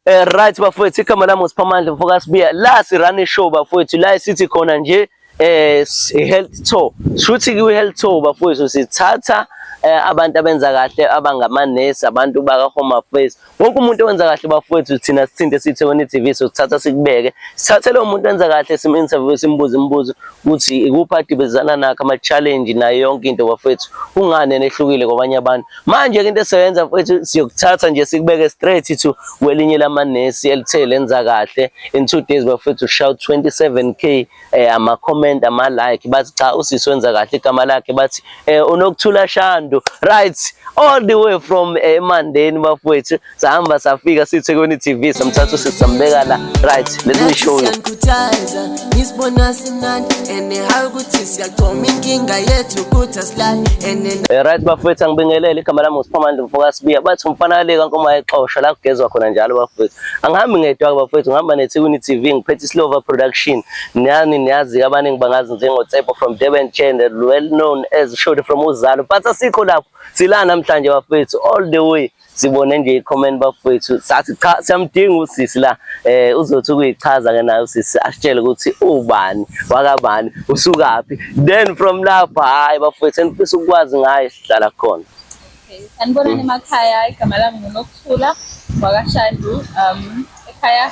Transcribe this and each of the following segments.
Eh, right bafowethu igama lami uSiphamandla mfokasibiya la sirane show bafowethu la sithi khona nje eh health tour shuthi ku health tour bafowethu sithatha eh, abantu abenza kahle abangamanesi abantu baka home affairs wonke umuntu owenza kahle bafowethu thina sithinte sithe wena TV so sithatha sikubeke sithathe lo muntu enza kahle sim interview simbuze imibuzo ukuthi ikuphi adibezana nakho ama challenge nayo yonke into bafowethu kungani enehlukile kwabanye abantu Manje ke into esiyoyenza mfethu siyokuthatha nje sikubeke straight to kwelinye lamanesi elithe lenza kahle in two days bafethu ushaya 27k eh ama comment ama like bathi cha usisi wenza kahle igama lakhe bathi eh unokuthula shando right all the way from eh, Mandeni bafethu sahamba safika sithekwini TV samthatha sisambeka la right let me show you ngisibona simnandi and how ukuthi siyaqoma inkinga yethu ukuthi asilali and eh, right bafethu angibingelele igama lami uSiphamandla mfoka sibiya bathi umfana kaleka nkoma exosha la kugezwa khona njalo bafethu angihambi ngedwa bafethu ngihamba nethekwini TV ngiphethe isilova production niyani niyazi abaningi bangazi njengo Tsepo from Durban Channel well known as Shode from Uzalo but asikho lapho sila namhlanje bafethu all the way sibone nje i-comment bafowethu sathi cha siyamdinga usisi la eh uzothi ukuyichaza ke naye usisi asitshele ukuthi ubani wakabani usukaphi then from lapho hayi bafowethu enifisa ukwazi ngaye sihlala khona sanibonani emakhaya igama lami ngunokuthula wakashandu um ekhaya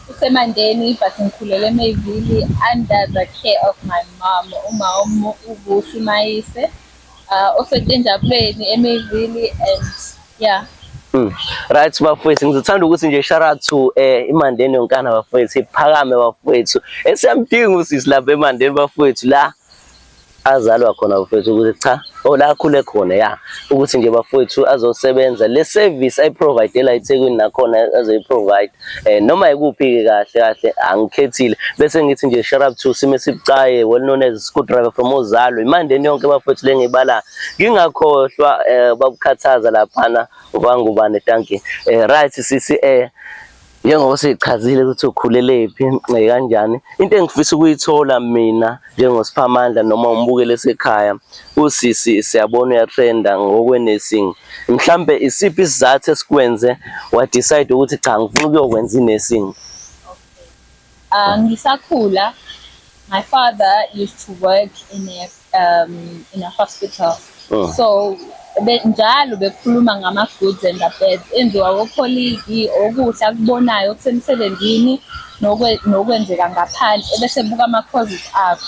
usemandeni but ngikhulele emayivili under the care of my mom uma ubusi mayise uh, osetinjabuleni emivili and yeah Mm. Right bafowethu ngizithanda ukuthi nje shout out to eh imandeni yonkana bafowethu iphakame bafowethu esiyamdinga usisi lapha emandeni bafowethu la azalwa khona bafowethu ukuthi cha ola oh, akhule khona ya ukuthi nje bafowethu azosebenza le service ayiprovidela eThekwini nakhona azoyiprovide eh noma ikuphi kahle kahle angikhethile bese ngithi nje shout out to sime sibucaye well known as screwdriver from uzalo imandeni yonke bafethu lengibala ngingakhohlwa eh, babukhathaza laphana ubangubane thank you eh, right sisi eh njengoba sichazile ukuthi ukhulelephi eh, kanjani into engifisa ukuyithola mina njengosiphamandla noma umbukele esekhaya usisi siyabona uyatrenda ngokwe-nursing mhlampe isiphi isizathu esikwenze wadecide ukuthi cha ngifuna ukuyokwenza i-nursing ah, ngisakhula my father used to work in a, um, in a hospital Oh. so be, njalo bekhuluma ngama-goods and abeds enziwa wokholiki okuhle akubonayo okusemsebenzini nokwe- nokwenzeka ngaphandle ebese buka ama-causes akho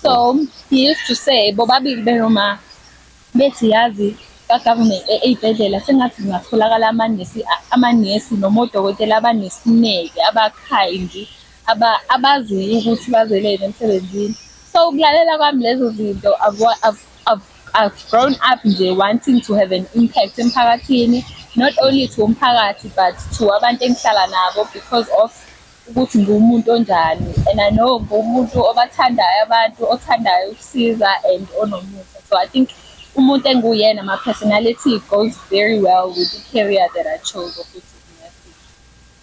so he used to say bobabili benoma bethi yazi ka-government e- ey'bhedlela sengathi kungatholakala amanesi a- amanesi noma odokotela abanesineke abakhayindi aba- abaziyo ukuthi bazeleni emsebenzini so ukulalela kwami lezo zinto akwa- ak- I've, I've grown up nje wanting to have an impact emphakathini not only to umphakathi but to abantu engihlala nabo because of ukuthi ngumuntu onjani and I know ngumuntu obathandayo abantu othandayo ukusiza and onomusa so I think umuntu enguyena my personality goes very well with the career that I chose of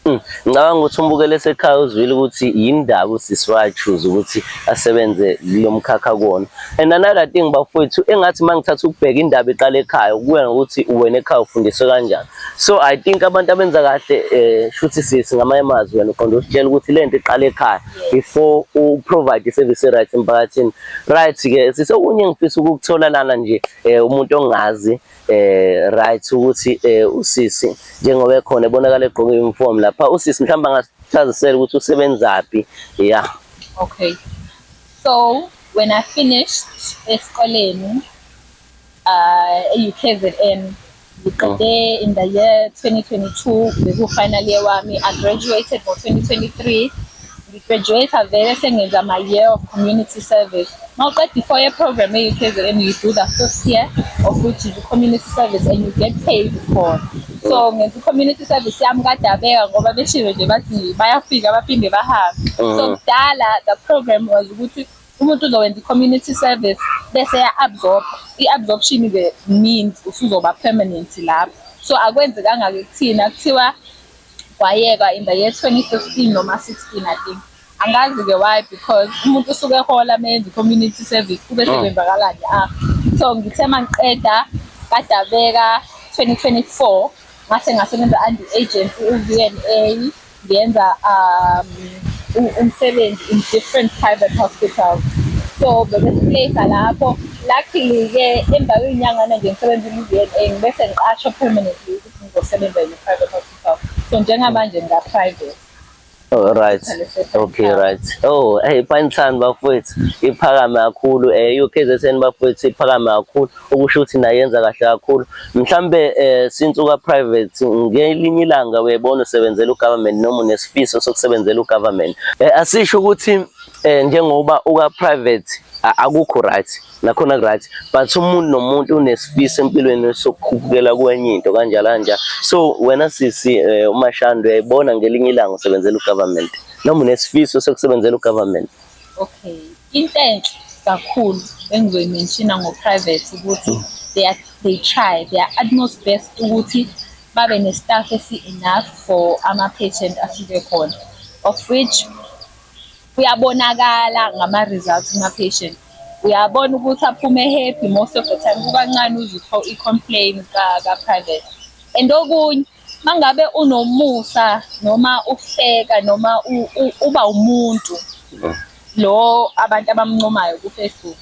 Hmm. Ngicabanga ukuthi umbukele esekhaya uzwile ukuthi yindaba usisi wachuza ukuthi asebenze kulo mkhakha kuwona and another thing bafowethu engathi uma ngithatha ukubheka indaba iqala ekhaya kuya ngokuthi wena ekhaya ufundiswe kanjani so i think abantu abenza kahle um shuthi sisi ngamanye amazwi wena uqonda usitshela ukuthi le nto iqala ekhaya before uprovide i-service e-right emphakathini right-ke sise okunye engifisa ukukuthola lana nje um umuntu ongazi eh right ukuthi eh usisi njengoba ekhona ebonakala egqoke uniform lapha usisi mhlawumbe angasichazisela ukuthi usebenzaphi yeah okay so when i finished esikoleni uh eUKZN ngiqede oh. in the year 2022 beku final year wami i graduated ngo 2023 Ngigraduate vele sengenza my year of community service. Mawuqeda i-four year program e-UKZN you do the fifth year of which is community service and you get paid for. So ngenza community service yami kadabeka ngoba beshilo nje bathi bayafika baphinde bahambe. So uh-huh. kudala the program was ukuthi umuntu uzowenza i-community service bese ya-absorb i-absorption ke means usuzoba permanent lapho so akwenzekanga-ke kuthina kuthiwa kwayekwa in the year 2015 noma 16 I think angazi-ke why because umuntu usuke ehola meyenza i-community service kube oh. sekwenzakalani ah so ngithe uma ngiqeda kadabeka 2024 ngase ngasebenza under agency u-vna ngiyenza um umsebenzi in different private hospitals so bebesipleyisa lapho luckily-ke emva kwenyangana nje ngisebenza i-vna ngibese ngiqashwa permanently ngizosebenza in a private hospital so njengamanje ngika private Oh, right okay right oh hey pansan bafowethu iphakame kakhulu eh uKZN bafowethu iphakame kakhulu okusho ukuthi nayenza kahle kakhulu mhlambe eh since uka private ngelinye ilanga uyebona usebenzela ugovernment noma unesifiso sokusebenzela ugovernment eh asisho ukuthi eh njengoba uka private akukho right nakhona right but umuntu nomuntu unesifiso empilweni sokukhupukela kwenye into kanjalo kanja so wena sisi eh, umashandu uyayibona ngelinye ilanga usebenzela ugovernment noma unesifiso sokusebenzela ugovernment okay into enhle kakhulu engizoyimenshina ngo-private ukuthi mm. they, are, they try their utmost best ukuthi babe ne-staff esi-enough for ama-patient afike khona of which Kuyabonakala ngama-results kuma-patient. Uyabona ukuthi aphume happy most of the time, kukancane uze i-complain ka-private. And okunye uma ngabe unomusa noma uhleka noma uba umuntu lo abantu abamncomayo ku-Facebook.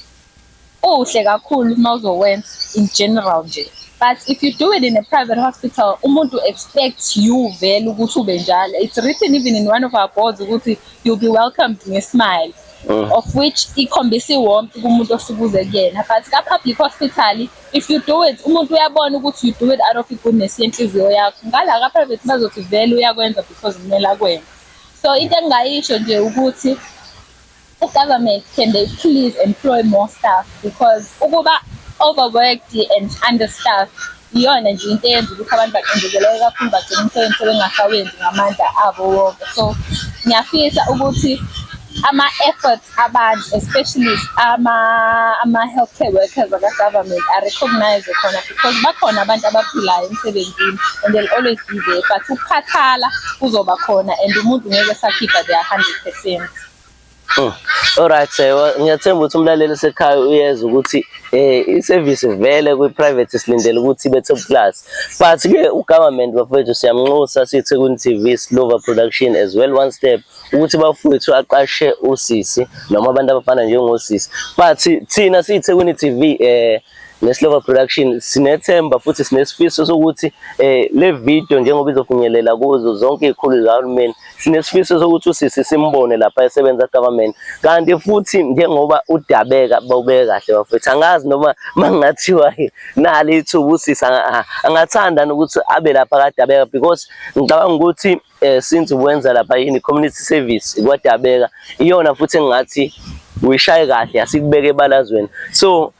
Uhle kakhulu uma uzowenza in general nje. But if you do it in a private hospital, umuntu expects you vele ukuthi ube njalo. It's written even in one of our boards ukuthi you'll be welcomed ngesmile. Mm. Of which ikhombisa iwarmth kumuntu osukuze kuyena. But ka public hospital, if you do it, umuntu uyabona ukuthi you do it out of goodness yenhliziyo yakho. Ngala ka private bazothi vele uyakwenza because kumele akwenze. So into engingayisho nje ukuthi ugovernment can they please employ more staff because ukuba overworked and understaffed iyona nje into eyenza ukuthi abantu baqindezeleke kakhulu bagcina umsebenzi sebengasawenzi ngamandla abo wonke so ngiyafisa ukuthi ama-efforts abantu especially ama-healthcare ama workers aka-government arecognize khona because bakhona abantu abaphilayo emsebenzini and they'll always be there but ukukhathala kuzoba khona and umuntu ngeke esakhipha their hundred percent Mm. Alright sir, ngiyathemba ukuthi umlaleli sekhaya uyeza ukuthi eh iservice vele kwi private silindele ukuthi ibe top class. But ke u government bafethu siyamnxusa sithi ku TV Silver Production as well one step ukuthi bafowethu aqashe usisi noma abantu abafana njengosisi. But thina sithe ku TV eh neSlova Production sinethemba futhi sinesifiso sokuthi eh le video njengoba izofinyelela kuzo zonke izikhulu zikahulumeni Sinesifiso sokuthi usisi simbone lapha esebenza government kanti futhi njengoba udabeka bawubeke kahle bafethu angazi noma mangathiwa nali ithuba usisi angathanda ukuthi abe lapha kadabeka because ngicabanga ukuthi eh, since uwenza lapha yini community service kwadabeka iyona futhi engathi uyishaye kahle asikubeke ebalazweni so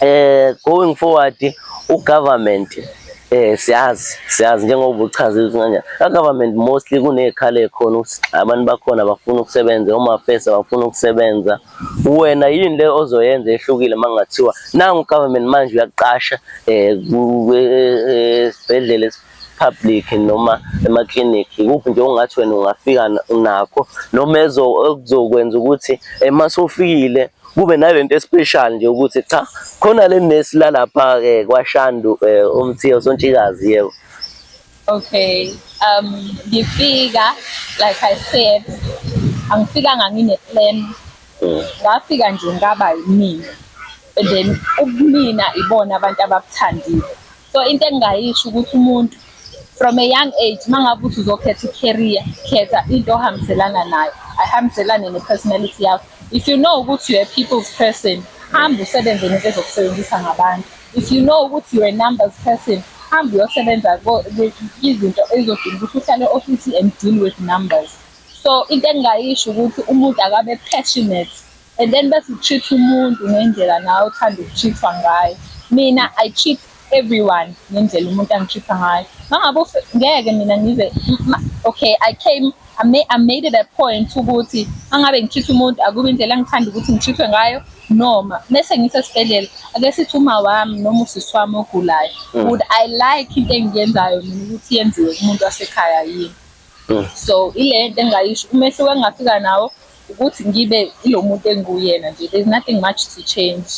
eh going forward u government eh siyazi siyazi njengoba ubuchaza ukuthi kanje ka government mostly kunezikhala ekhona ukuthi abantu bakhona bafuna ukusebenza uma face bafuna ukusebenza wena yini le ozoyenza ehlukile mangathiwa nangu government manje uyaqasha eh, eh, eh esibhedlela public noma ema-clinic ikuphi nje ongathi wena ungafika nakho noma ekuzokwenza ukuthi uma sofikile kube nalento especial nje ukuthi cha khona le nurse lalapha ke kwashandu eh, umthiyo sontshikazi yebo okay um ngifika like i said angifikanga ngine plan mm. ngafika nje ngaba yimina and then ubumina ibona abantu abakuthandile so into engingayisho ukuthi umuntu from a young age mangabe uthi uzokhetha i-career khetha into ohambiselana nayo ayihambiselane ne-personality yakho if you know ukuthi you're a people's person hamba usebenze nento ezokusebenzisa ngabantu if you know ukuthi you're a numbers person hamba uyosebenza izinto ezodinga ukuthi uhlale ofisi and deal with numbers so into engingayisho ukuthi umuntu akabe passionate and then bese ucheat umuntu ngendlela nawe uthanda ukucheatwa ngayo mina i cheat everyone ngendlela umuntu angicheatha ngayo mangabe ngeke mina ngize okay i came I made, I made it a point ukuthi angabe ngichitha umuntu akube indlela engithanda ukuthi ngichithwe ngayo noma mese ngisesibhedlela ake sithi uma wami noma usisi wami ogulayo mm. would i like into engiyenzayo mina ukuthi yenziwe kumuntu wasekhaya yini mm. so ile nto engayisho umehluko engingafika nawo ukuthi ngibe ilo muntu enguyena nje there's nothing much to change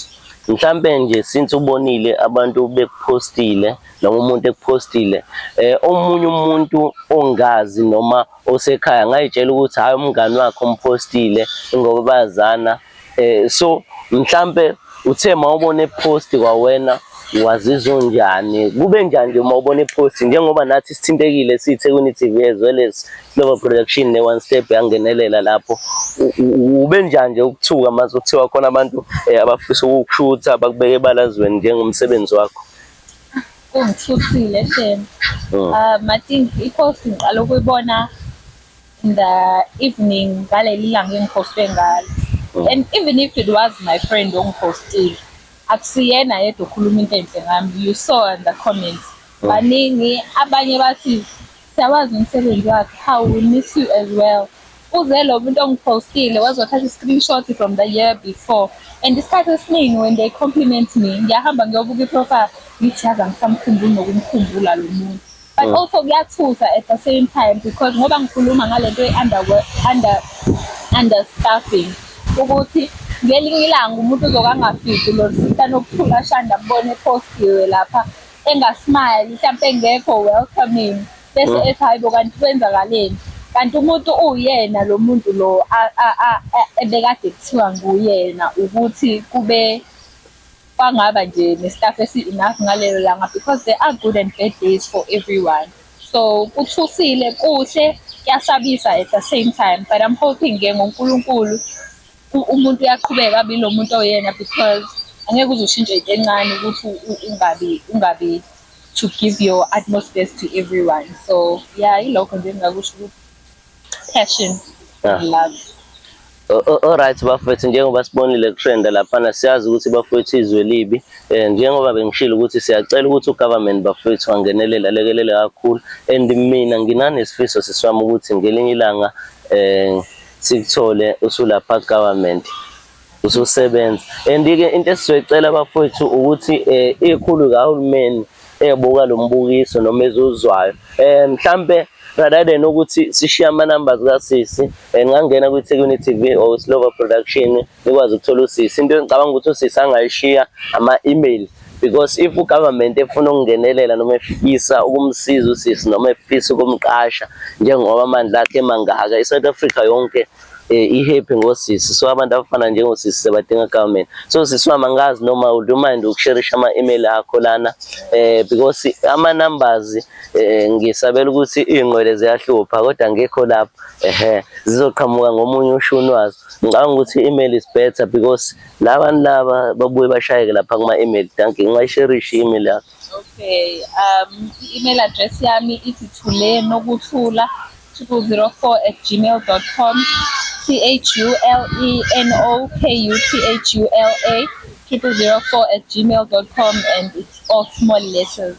mhlampe nje since ubonile abantu bekuphostile noma umuntu ekuphostile eh omunye umuntu ongazi noma osekhaya ngayitshela ukuthi hayi umngani wakhe umphostile ngoba bazana eh so mhlambe uthe mawubona ipost kwawena wazizwa unjani kube njani nje uma ubona ipost njengoba nathi sithintekile siyiThekwini TV as well as Slovo Production ne One Step yangenelela lapho ube njani nje ukuthuka mase kuthiwa khona abantu eh, abafisa ukukushutha bakubeke ebalazweni njengomsebenzi wakho kungithuthile shem mm. ah matingi ipost ngiqala ukuyibona in the evening ngaleli langa engiphostwe ngalo oh. and even if it was my friend ongiphostile akusiyena yedwa okhuluma into enhle ngami you saw in the comments oh. baningi abanye bathi siyawazi umsebenzi wakhe how we miss you as well uze lo muntu ongiphostile wazothatha i-screenshot from the year before and isikhathi esiningi when they compliment me ngiyahamba ngiyobuka i-profile ngithi yazi angisamkhumbuli nokumkhumbula lo muntu but mm. also kuyathusa at the same time because ngoba ngikhuluma ngale nto ye-under under, under staffing ukuthi ngelinye ilanga umuntu uzoke angafiki lo sista nokuthula ashanda mbone postiwe lapha engasmile mhlawumpe engekho welcoming bese mm. ethi hayi bo kanti kwenzakaleni kanti umuntu uyena lo muntu lo ebekade kuthiwa nguyena ukuthi kube kwangaba nje nestaff esi-enough ngalelo langa because there are good and bad days for everyone so kuthusile kuhle kuyasabisa at the same time but i'm hoping ke ngonkulunkulu umuntu uyaqhubeka abe lo muntu oyena because angeke uze ushintshe into encane ukuthi ungabi ungabi to give your utmost best to everyone so yeah ilokho nje engingakusho ukuthi Passion. Yeah. Love. Alright bafethu njengoba sibonile kutrenda laphana siyazi ukuthi bafethu izwe libi eh njengoba bengishilo ukuthi siyacela ukuthi ugovernment bafethu angenelele alekelele kakhulu and mina nginanesifiso siswami ukuthi ngelinye ilanga eh sikuthole usulapha government ususebenza and ke into esizoyicela abafowethu ukuthi eh, ikhulu kahulumeni ebuka lo mbukiso noma ezuzwayo eh mhlambe rather than ukuthi sishiye ama numbers kasisi eh, ngangena kwi Thekwini TV or Silova Production nikwazi ukuthola usisi into engicabanga ukuthi usisi angayishiya ama email because if ugovernment efuna ukungenelela noma efisa ukumsiza usisi noma efisa ukumqasha njengoba amandla akhe mangaka iSouth Africa yonke eh, i-happy ngosisi so abantu abafana njengosisi sebadinga government so sisi wami angazi noma would you mind ukusherisha ama-email akho lana eh, because ama-numbers eh, ngisabela ukuthi iy'nqwele ziyahlupha kodwa ngekho lapho ehe zizoqhamuka ngomunye ushuni wazo ngicabanga ukuthi i-email is better because labantu laba babuye bashayeke lapha kuma-email danki ngingayisherishi i-email yakho Okay, um, i-email address yami ithi thule nokuthula 204 at gmail.com t-h-u-l-e-n-o-k-u-t-h-u-l-a 204 at gmail.com and it's all small letters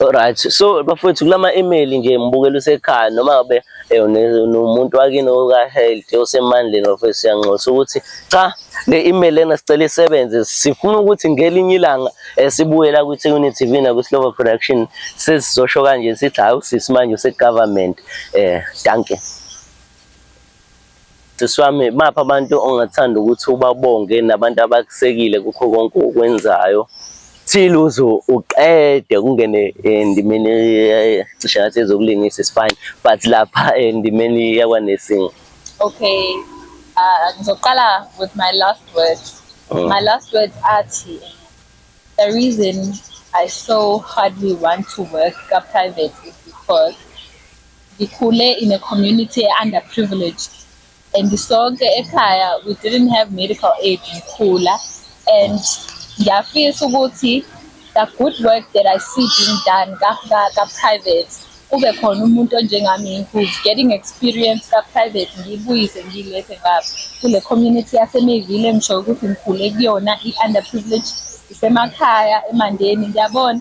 Alright, so bafowethu kulama email nje ngibukela usekhaya noma ngabe Eh, nomuntu wakini okahealth osemandleni ofesi siyanxusa ukuthi cha le email lena sicela isebenze sifuna ukuthi ngelinye ilanga eh, sibuye la kwi-Thekwini TV nakwi-Slovo Production sesizosho kanje sithi hawu sisi manje use-government um eh, danke Sisi wami, baphi abantu ongathanda ukuthi ubabonge nabantu abakusekile kukho konke okwenzayo till uze uqede kungene endimeni cishe ngathi ezokulingisa is fine but lapha endimeni yakwanesing okay uh, ngizoqala with my last words oh. my last words athi the reason i so hardly want to work ka-private is because Ngikhule in a community e underprivileged and sonke ekhaya we didn't have medical aid ngikhula and ngiyafisa ukuthi the good work that I see being done ka-private kube khona umuntu onjengami who's getting experience ka-private ngiyibuyise ngiyilethe ngapha kule community yasemeyville engisho ukuthi ngikhule kuyona i-underprivileged isemakhaya emandeni ngiyabona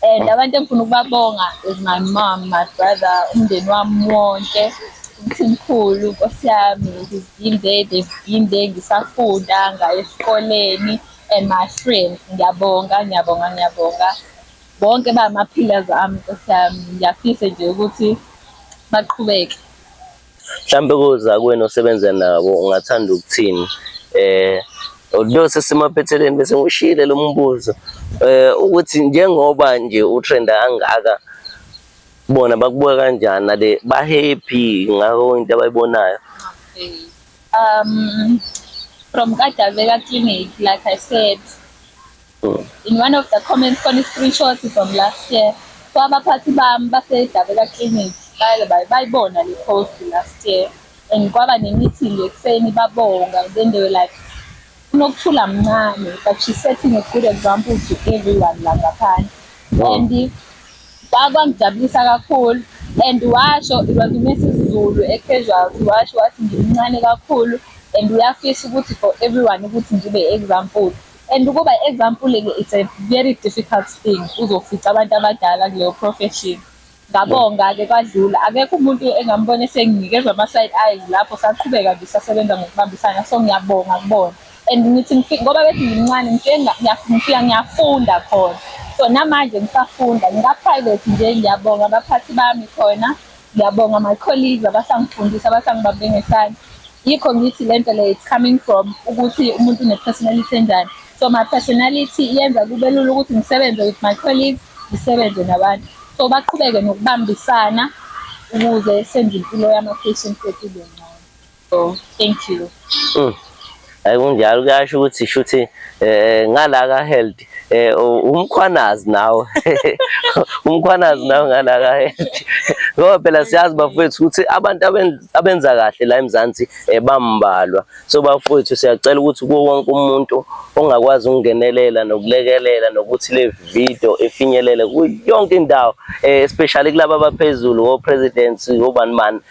And abantu engifuna ukubabonga is my mom, my brother, umndeni wami wonke, umthimkhulu, nkosi yami, he's been there, they've been there, ngisafunda, ngaye esikoleni, and my friends, ngiyabonga, ngiyabonga, ngiyabonga. Bonke bama-pillars ami, nkosi yami, ngiyafisa nje ukuthi baqhubeke. mhlambe kozakwenu osebenza nabo ungathanda ukuthini eh although sesimaphetheleni bese ngishile lo mbuzo eh ukuthi njengoba nje utrend angaka bona bakubuka kanjani nale ba happy ngakho into abayibonayo um from Kadaveka clinic like i said In one of the comments khona i-screenshot from last year kwabaphathi bami basedabeka clinic baye bayibona le post last year and kwaba ne-meeting ekuseni babonga then they were like unokuthula mncane but she's setting a good example to everyone la ngaphandle wow. and kwangijabulisa kakhulu and washo it was uMrs Zulu e-casualty washo wathi ngimncane kakhulu and uyafisa ukuthi for everyone ukuthi ngibe example and ukuba example ke it's a very difficult thing uzofica abantu abadala kuleyo profession ngabonga ke kwadlula akekho umuntu engambona esenginikeza ama side eyes lapho saqhubeka nje sasebenza ngokubambisana so ngiyabonga kubona and ngithi ngifike ngoba bethi ngimncane ngifike ngiyafika ngiyafunda khona so namanje ngisafunda ngika private nje ngiyabonga abaphathi bami khona Ngiyabonga my colleagues abasangifundisa abasangibambe ngesandla. Yikho ngithi lento le it's coming from ukuthi umuntu une personality enjani. So my personality yenza kube lula ukuthi ngisebenze with my colleagues, ngisebenze nabantu. So baqhubeke nokubambisana ukuze senze impilo yama patients ethu ibe ngcono. Oh, thank you. Mm. Hayi kunjalo kuyasho ukuthi shuthi eh, eh ngala ka health eh umkhwanazi nawe. Umkhwanazi nawe ngala ka health. Ngoba phela siyazi bafowethu ukuthi abantu abenza kahle la eMzansi eh, bambalwa. So bafowethu siyacela ukuthi kuwo wonke umuntu ongakwazi ukungenelela nokulekelela nokuthi le video efinyelele kuyonke indawo eh, especially kulabo abaphezulu o presidents obani bani